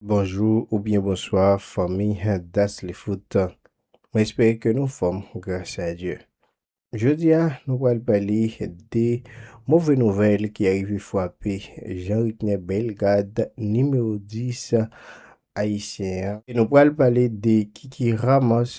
Bonjou ou byen bonswa fanmi Daslyfoot mwen espere ke nou fòm gras a Dye jodi a nou pral pale de move nouvèl ki arive fwape Jean Ricner Bellegarde nimewo 10 ayisyen an e nou pral pale de Kiki Ramos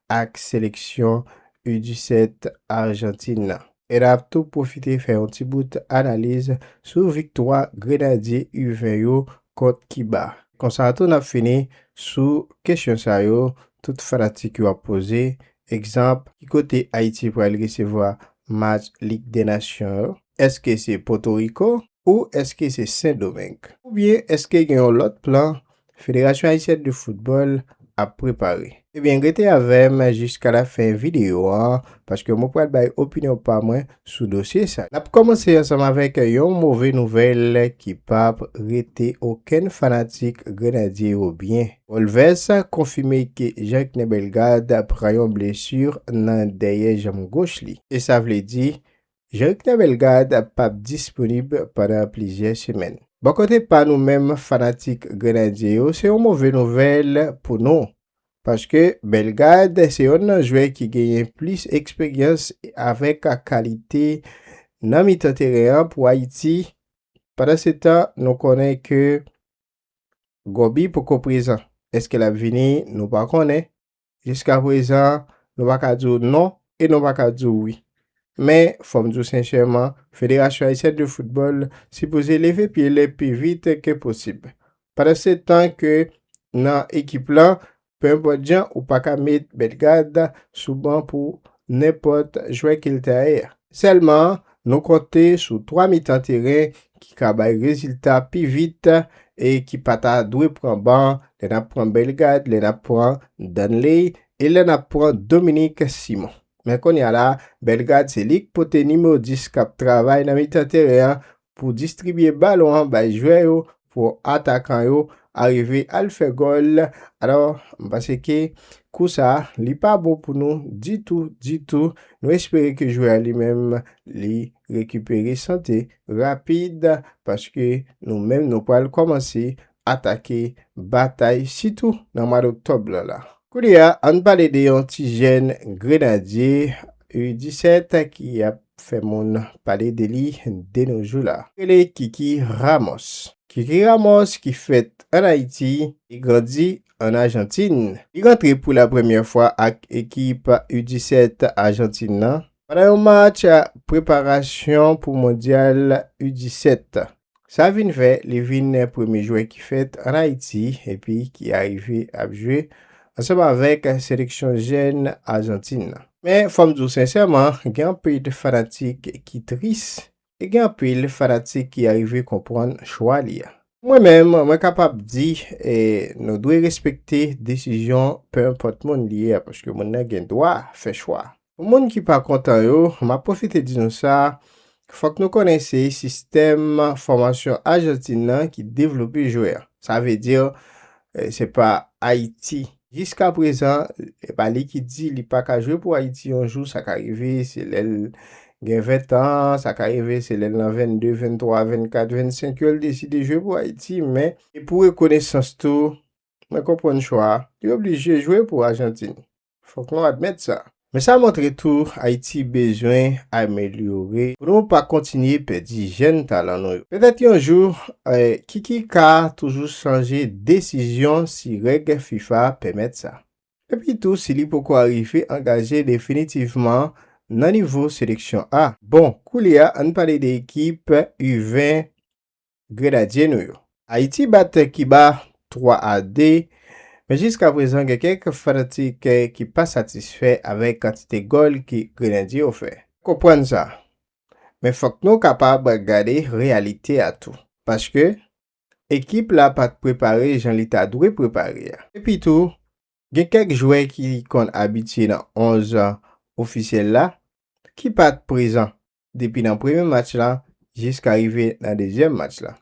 ak seleksyon U17 Arjantin nan. E n ap tou pwofite fè yon ti bout analiz sou viktwa grenadye U20 yo kont Kiba. Konsa tou n ap fini sou kesyon sa yo tout fanatik yo ap poze, egzanp, ki kote Ayiti pral resevwa match Lig dè Nasyon yo? Èske se Pòtoriko? ou èske se Sen Domeng? Oubyen èske gen yon lòt plan Federasyon Ayisyèn de Foutbòl ap prepare? Ebyen rete avè m jiska lafen videyo an paske mwen pral bay opinyon pa mwen sou dosye sa. N ap kòmanse ansanm avèk yon move nouvèl ki p ap rete okenn fanatik Grenadye yo byen. Wolves konfime ke Jacquener Bellegarde pran yon blesu nan dèyè janm goch li. E sa vle di Jerikna Bellegarde pa p disponib pandan plizyè semèn. Bò kote pa nou menm fanatik Grenadye yo se yon move nouvèl pou nou paske Bellegarde se yonn nan jwè ki genyen plis eksperyans avèk kalite nan mitan teren an pou Ayiti. Pandansetan nou konnen ke Goby poko prezan. Eske l ap vini nou pa konnen. Jiska prezan, nou pa ka di w non e nou pa ka di w wi. Men, fò m di w senchèman, Federasyon Ayisyèn de Foutbòl sipoze leve pye l pi vit ke posib. Pandansetan ke nan ekip lan, penenpòt jan ou pa ka met Bellegarde sou ban pou nenpòt jwè ke l ta ye a. Sèlman, Nou konte sou 3 mitan teren ki ka bay rezilta pi vit e ki pa ta dwe pran ban lè n ap pran Bellegarde, lè n ap pran Danley e lè n ap pran Dominique Simon. Men konnya la, Bellegarde se li k pote nimewo 10 k ap travay nan mitan teren an pou distribye balon an bay jwè yo Pou atakan yo arive al fè gòl. Alò, m panse ke kou sa a, li pa bon pou nou ditou, ditou. Nou espere ke jwè a li menm, li rekipere sante rapid, paske nou menm nou pral kòmanse atake batay, sitou nan mwa doktòb lan la. Koulye a, an n pale de yon ti jèn Grenadye U-17 ki ap fè moun pale de li de no jou la. Rele Kiki Ramos. Kiki Ramos ki fèt an Ayiti, e grandi an Ajantin, li rantre pou la premyè fwa ak ekip U 17 Ajantin nan pandan yon match preparasyon pou Mondyal U 17 Sa vin fè li vin premye jwè ki fèt an Ayiti epi ki arive ap jwe ansanm avèk seleksyon jèn Ajantin nan. Men fò m di w sensèman, gen anpil fanatik ki tris e gen anpil fanatik ki arive konprann chwa li a. Pou mwen menm, mwen kapab di e nou dwe respekte desizyon penenpòt moun li ye a paske moun nan gen dwa fè chwa. Pou moun ki pa kontan yo, m ap pwofite di nou sa, fòk nou konnen se sistèm fòmasyon Ajantin nan ki devlope jwè. Sa vle di, se pa Ayiti. Jiska prezan, e pa li ki di li pa ka jwe pou Ayiti yon jou, sa ka rive, se lè l gen ventan, sa ka rive se lè l nan vennde, venntwa, vennkat, vennsenk yo l deside jwe pou Ayiti, men. E pou rekonesans tou, mwen konprann chwa, li oblije jwe pou Ajantin. Fok nou admèt sa. Men sa montre tou Ayiti bezwen amelyore pou nou pa kontinye pèdi jèn talan nou yo. Petèt yon jou, Kiki ka toujou chanje desizyon si règ fifa pèmèt sa. Epi tou si li poko arive angaje definitivman nan nivo seleksyon A. Bon, koulye a ann pale de ekip U20. Grenadye nou yo. Ayiti bat Kiba 3 a 2, men jiska prezan gen kèk fanatik ki pa satisfè avèk kantite gòl ke Grenadye yo fè. Konprann sa. Men fòk nou kapab gade reyalite a tou. Paske, ekip la pa t prepare jan li ta dwe prepare a. Epi tou, gen kèk jwè ki konn abitye nan 11 ofisyèl la ki pa t prezan. depi nan premye match la jiska rive nan dezyèm match la.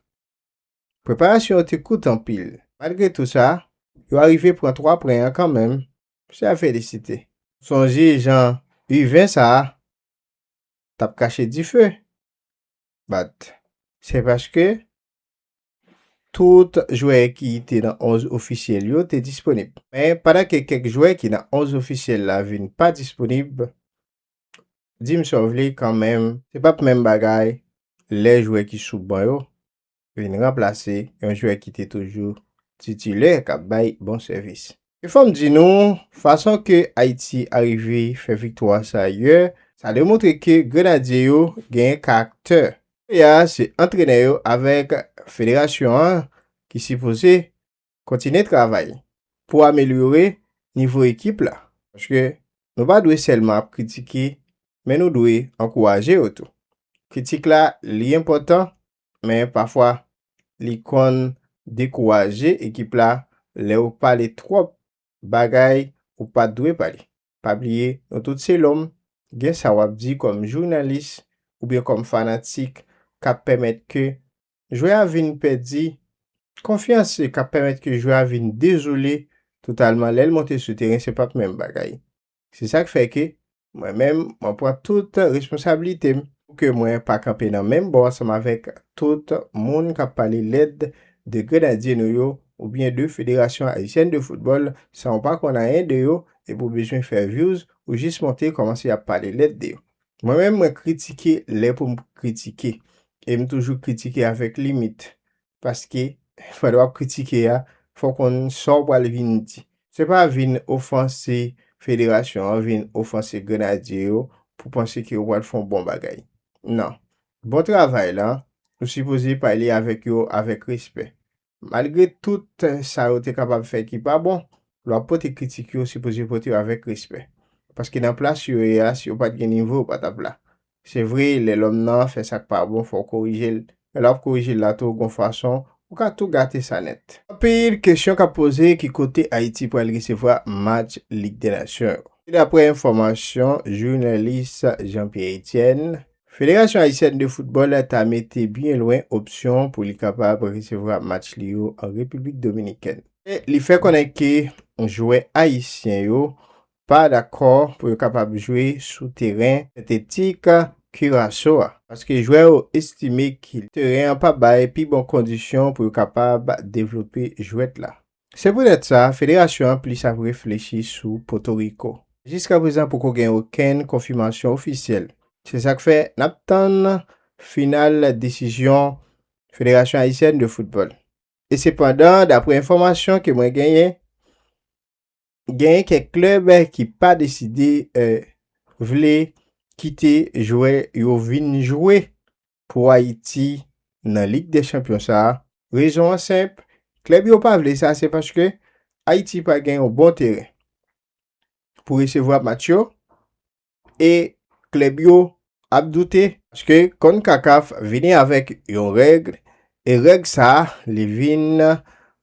Preparasyon yo te kout anpil, malgre tou sa, yo arive pran 3 pwen an kanmenm, se a felisite. M sonje jan U20 sa a t ap kache dife, bat, se paske tout jwè ki te nan 11 ofisyèl yo te disponib. Men, pandan ke kèk jwè ki nan 11 ofisyèl la vin pa disponib, Dim sa w vle kanmenm, se pap menm bagay lè jwè ki sou ban yo vin ranplase yon jwè ki te toujou titilè kap bay bon sèvis. E fò m di nou, fason ke Ayiti arive fè viktwa sa yè, sa demontre ke Grenadye yo genyen karaktè. Kounye a se antrenè yo avèk federasyon an ki sipoze Kontinye travay pou amelyore nivo ekip la paske nou pa dwe sèlman ap kritike men nou dwe ankouraje yo tou. Kritik la li enpòtan men pafwa li konn dekouraje ekip la lè ou pale twòp bagay ou pat dwe pale. Pa bliye nou tout se lòm, gen sa wap di kòm jounalis oubyen kòm fanatik kap pèmèt ke jwè a vin pèdi konfyans e kap pèmèt ke jwè a vin dezole totalman lèl monte sou teren se pap menm bagay. Se sak fè ke mwen menm mwen pran tout responsabilitem pou ke mwen pa kanpe nan menm bò ansanm avèk tout moun kap pale lèd de Grenadye nou yo oubyen de Federasyon Ayisyèn de Foutbòl san ou pa konn anyen de yo epi ou bezwen fè views ou jis monte kòmanse ap pale lèd de yo. Mwen menm mwen kritike lè pou m kritike e m toujou kritike avèk limit paske pandan w ap kritike a fò w konn sa w pral vin di. Se pa vin ofanse federasyon an, vin ofanse grenadye yo pou panse ke ou pral fè yon bon bagay. Nan. Bon travay la, ou sipoze pale avèk yo avèk respè. Malgre tout sa yo te kapab fè ki pa bon, lè w ap pote kritik yo sipoze pote yo avèk respè. Paske nan plas yo ye a si yo pat gen nivo yo pa tap la. Se vre lè lòm nan fè sak pa bon fò w korije l, men lè w ap korije l la tou gon fason ou ka tou gate sa nèt. Anpil kesyon kap poze ki kote Ayiti pral resevwa match Lig dè Nasyon yo. Se daprè enfòmasyon jounalist Jean Pierre Etienne Federasyon Ayisyèn de Foutbòl ta mete byen lwen opsyon pou li kapab resevwa match li yo an Repiblik Dominikèn. Li fè konnen ke jwè ayisyen yo pa dakò pou yo kapab jwe sou teren sentetik Kiraso a, paske jwè yo estime ke teren an pa bay pi bon kondisyon pou yo kapab devlope jwèt la. Se poutèt sa, federasyon an plis ap reflechi sou Potoriko. Jiskaprezan poko gen okenn konfimasyon ofisyèl. Se sa k fè n ap tann final desizyon Federasyon Ayisyèn de Foutbòl. E sepandan, daprè enfòmasyon ke mwen genyen, genyen kèk klèb ki pa deside vle kite jwè yo vin jwe pou Ayiti nan Lig dè Chanpyon sa a, rezon an senp, klèb yo pa vle sa se paske Ayiti pa gen yon bon teren pou resevwa match yo e klèb yo ap doute. Paske Concacaf vini avèk yon règ E règ sa li vin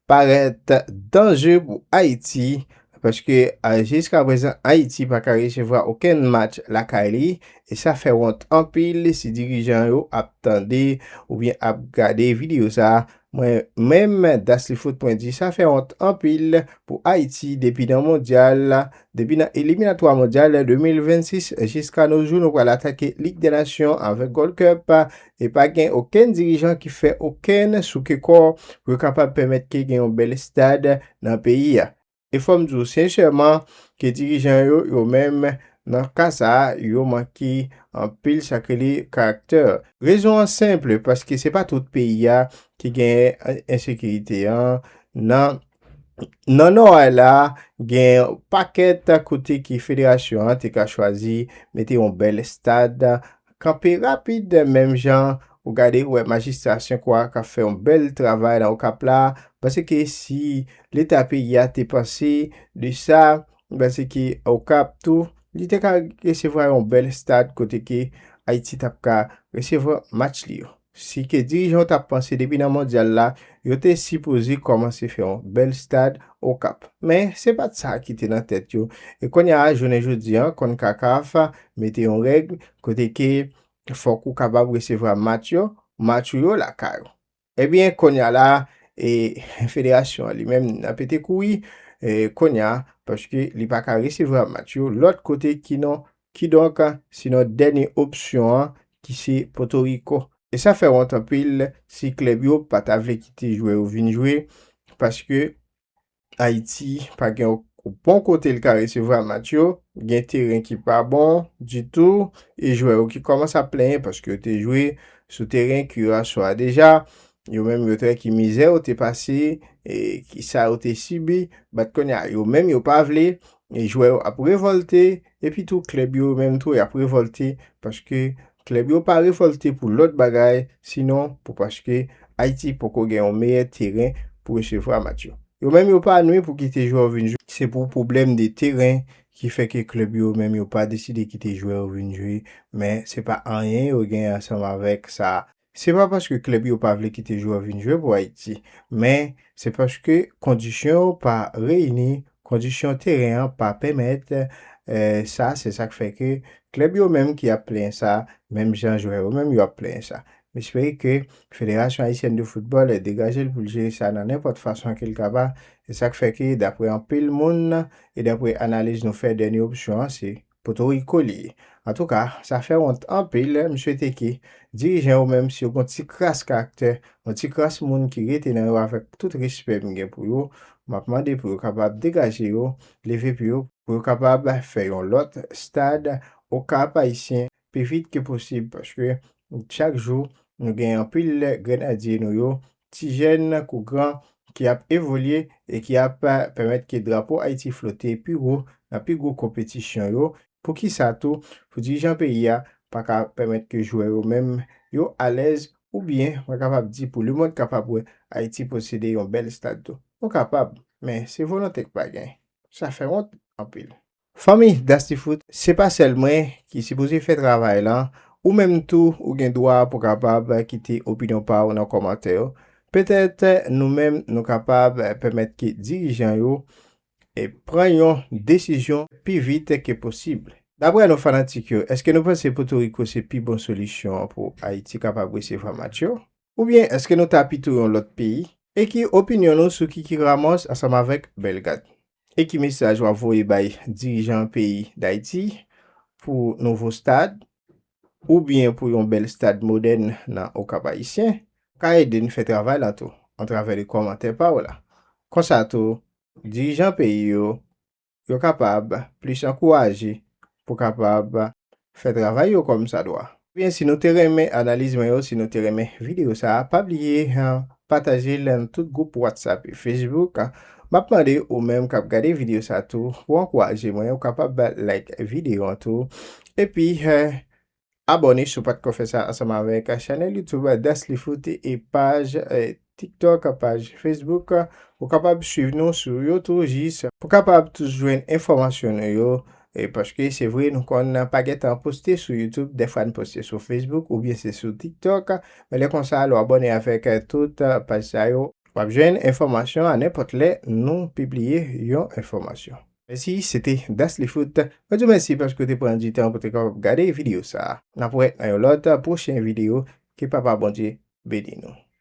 parèt danje pou Ayiti paske jiskaprezan Ayiti pa ka resevwa okenn match lakay li e sa fè wont anpil si dirijan yo ap tande oubyen ap gade videyo sa mwen menm Daslyfoot mwen di sa fè wont anpil pou Ayiti depi nan mondyal depi nan eliminatwa mondyal 2026 jiska no jou nou pral atake Lig dè nasyon avèk Gold Cup E pa gen okenn dirijan ki fè okenn souke kò pou yo kapab pèmèt ke gen yon bèl estad nan peyi a. E fò m di w senchèman ke dirijan yo, yo menm, nan ka sa a, yo manke anpil sa k rele karaktè. Rezon an senpl, paske se pa tout peyi a ki genyen ensekirite an. Nan nan Nò a la, gen yon pakèt kote ke federasyon an te ka chwazi mete yon bèl estad. Kanpe rapid menm jan ou gade ou wè majistra senkwa kap fè yon bèl travay nan okap la paske si leta peyi a te panse de sa paske okap tou li te ka resevwa yon bèl stad kote ke ayiti tap ka resevwa match li yo. Si ke dirijan yo ta panse depi nan mondyal la, yo te sipoze kòmanse fè yon bèl stad Okap. Men, se pa t sa ki te nan tèt yo. E kounye a, jounen jodi an, Concacaf mete yon règ kote ke fòk ou kapab resevwa match yo, match ou yo lakay ou. Ebyen, kounye a la, e federasyon an li menm nan pete kouri, e kounye a, paske li pa ka resevwa match yo lòt kote ki non Kidonk, se nan dènye opsyon an ki se Potoriko. E sa fè wont anpil si klèb yo pa ta vle kite jwè yo vin jwe paske Ayiti pa gen yon bon kote l ka resevwa match yo, gen teren ki pa bon ditou e jwè yo ki kòmanse ap plenyen paske yo te jwe sou teren Kiraso a deja. Yo menm yo te wè ki mizè yo te pase e ki sa yo te sibi bat kounye a yo menm yo pa vle jwè yo ap revòlte Epi tou klèb yo menm tou yap revolte paske klèb yo pa revolte pou lòt bagay sinon pou paske Ayiti poko gen yon meyè teren pou resevwa match yo. Yo menm yo pa nwi pou kite jwè yo vin jwe. Se pou pwoblèm de teren ki fè ke klèb yo menm yo pa deside kite jwè yo vin jwe men se pa anyen yo gen ansanm avèk sa. Se pa paske klèb yo pa vle kite jwè vin jwe pou Ayiti, men se paske kondisyon yo pa reyini, kondisyon teren an pa pèmèt sa, se sak fè ke klèb yo menm ki ap plenyen sa, menm jan jwè yo menm yo ap plenyen sa. M espere ke Federasyon Ayisyèn de Foutbòl degaje l pou l jere sa nan nenpòt fason ke l kaba, se sak fè ke daprè anpil moun e daprè analiz nou fè dènye opsyon an se. Potoriko li ye. Antouka, sa fè wont anpil, m swete ke dirijan yo menm si yo gon ti kras karaktè, yon ti kras moun ki rete nan yo avèk tout respè m gen pou yo, m ap mande pou yo kapab degaje yo, leve pye yo pou yo kapab fè yon lòt stad Okap Ayisyen pi vit ke posib paske chak jou nou gen anpil grenadye nou yo ti jèn kou gran, ki ap evolye e ki ap pèmèt ke drapo Ayiti flote pi wo nan pi gwo konpetisyon yo, poukisa tou pou dirijan peyi a pa ka pèmèt ke jwè yo menm yo alèz oubyen mwen kapab di pou lemond kapab wè Ayiti posede yon bèl stad tou. Nou kapab, men se volonte k pa gen. Sa fè wont anpil. Fanmi Dastifout se pa sèl mwen ki sipoze fè travay lan, ou menm tou ou gen dwa pou kapab kite opinyon pa w nan kòmantè yo, petèt nou menm nou kapab pèmèt ke dirijan yo pran yon desizyon pi vit ke posib. Daprè nou fanatik yo, èske nou panse Potoriko se pi bon solisyon pou Ayiti kapab resevwa match yo? Oubyen èske nou ta pito yon lòt peyi? Ekri opinyon nou sou Kiki Ramos ansanm avèk Bellegarde. E ki mesaj wap voye bay dirijan peyi Dayiti pou nouvo stad ou byen pou yon bèl stad modèn nan O Kap Ayisyen ka ede n fè travay la tou antravè li kòmantè pa w la. Konsa tou dirijan peyi yo yo kapab plis ankouraje pou kapab fè travay yo kòm sa dwa. Ebyen si nou te renmen analiz mwen yo, si nou te renmen video sa pa bliye pataje l nan tout gwoup whatsapp e facebook, map mande ou menm kap gade video sa tou pou ankouraje mwen ou kapab like video an tou epi Abòne si w pa t ko fè sa ansanm avèk chanèl YouTube Daslyfoot e paj TikTok, paj Facebook. Ou kapab swiv nou sou yo tou jis pou kapab toujou jwenn enfòmasyon nou yo. E paske se vre nou konn pa gen tan poste sou YouTube, dèfwa n poste sou Facebook oubyen se sou TikTok. Men lè konsa lè w abòne avèk tout paj sa yo. W ap jwenn enfòmasyon a nenpòt lè nou pibliye yon enfòmasyon. Mèsi, se te Daslyfoot. Mwen di w mèsi paske w te pran di tan pou w te kapab gade videyo sa a. N ap wè nan yon lòt pwochen videyo. Ke Papa Bondye beni nou.